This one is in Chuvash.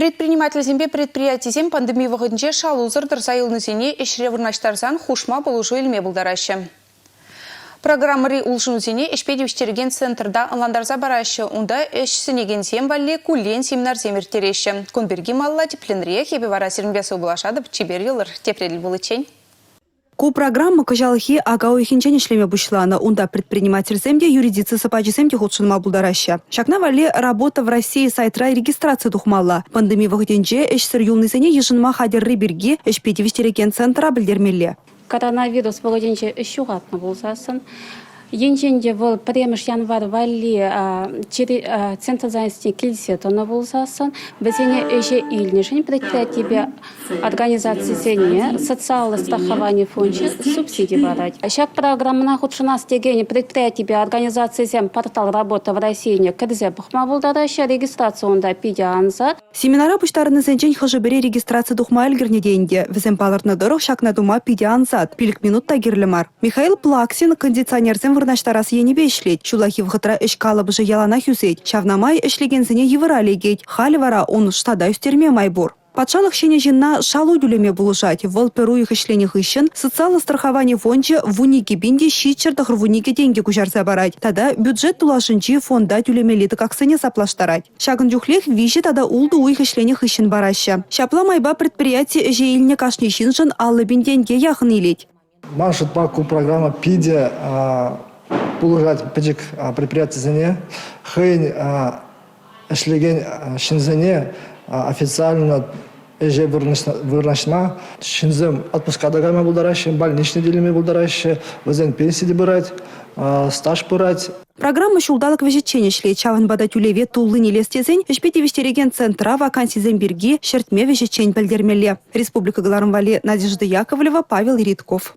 Предпринимательсемпе предприятисем пандеми вӑхӑтӗнче шалусӑр тӑрса юлнисене ӗҫре вырнаҫтарсан хушма пулӑшу илме пултараҫҫӗ. Программӑри улшӑнусене ӗҫпе тивӗҫтерекен центрта ӑнлантарса параҫҫӗ. Унта ӗҫ сӗнекенсем валли куллен семинарсем ирттереҫҫӗ. Кун пирки малла тӗпленрех эпӗ вара сирӗнпе сывпуллашатӑп чипер йӑлӑр тепре пуличчен. Ку программа кӑҫалхи ака уйӑхӗнчен ӗҫлеме пуҫланӑ. Унта предпринимательсем те, юридици сапачӗсем те хутшӑнма пултараҫҫӗ. Ҫакна валли «Работа в России» сайтра регистраци тухмалла. Пандеми вӑхӑтӗнче ӗҫсӗр юлнисене йышӑнма хатӗрри пирки ӗҫпе тивӗҫтерекен центра пӗлтермелле. Коронавирус вӑхӑтӗнче ӗҫ ҫухатнӑ пулсассӑн Енчен те вӑл пӗрремӗш январь валли центр занятосне килсе тӑнӑ пулсассӑн, вӗсене ӗҫе илнӗшӗн предприятипе организацисене социаллӑ страховани фончӗ субсиди парать. Ҫак программӑна хутшӑнас текен предприятипе организацисем портал «Работа в России»не кӗрсе пӑхма пултараҫҫӗ. Регистраци унта питӗ ансат. Семинара пуҫтарӑннисенчен хӑшӗ-пӗри регистраци тухма ӗлкӗрнӗ те ӗнтӗ. Вӗсем палӑртнӑ тӑрӑх ҫакна тума питӗ ансат, пилӗк минут та кирлӗ мар. Михаил Плаксин кондиционерсем вырнаҫтарас енӗпе ӗҫлет. Ҫуллахи вӑхӑтра ӗҫ калӑпӑшӗ яланах ӳсет. Ҫавна май ӗҫлекенсене йывӑра лекет. Халӗ вара ун штата ӳстерме май пур. Патшалӑх ҫӗнӗ ҫынна шалу тӳлеме пулӑшать. Вӑл пӗр уйӑх ӗҫленӗ хыҫҫӑн социаллӑ страховани фончӗ в унике пин те ҫиччӗр тӑхӑр вуникӗ тенкӗ куҫарса парать тата бюджет тулашӗнчи фонда тӳлемелли тӑкаксене саплаштарать. Ҫакӑн чухлех виҫӗ тата ултӑ уйӑх ӗҫленӗ хыҫҫӑн параҫҫӗ. Ҫапла майпа предприяти ӗҫе илнӗ кашни ҫыншӑн аллӑ пин тенке яхӑн илет. Ман шутпа ку программа питӗ пулӑшать пӗчӗк предприятисене хӑйӗн ӗҫлекен ҫынсене официально ӗҫе вырнаҫма ҫынсем отпуска та кайма пултараҫҫӗ, больничный те пултараҫҫӗ, вӗсен пенси те пырать, стаж пырать. Программа ҫулталӑк вӗҫӗччен ӗҫлет, ҫавӑнпа та тӳлеве туллин илес тесен ӗҫпе тивӗҫтерекен центра вакансисем пирки ҫӗртме вӗҫӗччен пӗлтермелле. Республика кӑларӑм валли Надежда Яковлева, Павел Редков.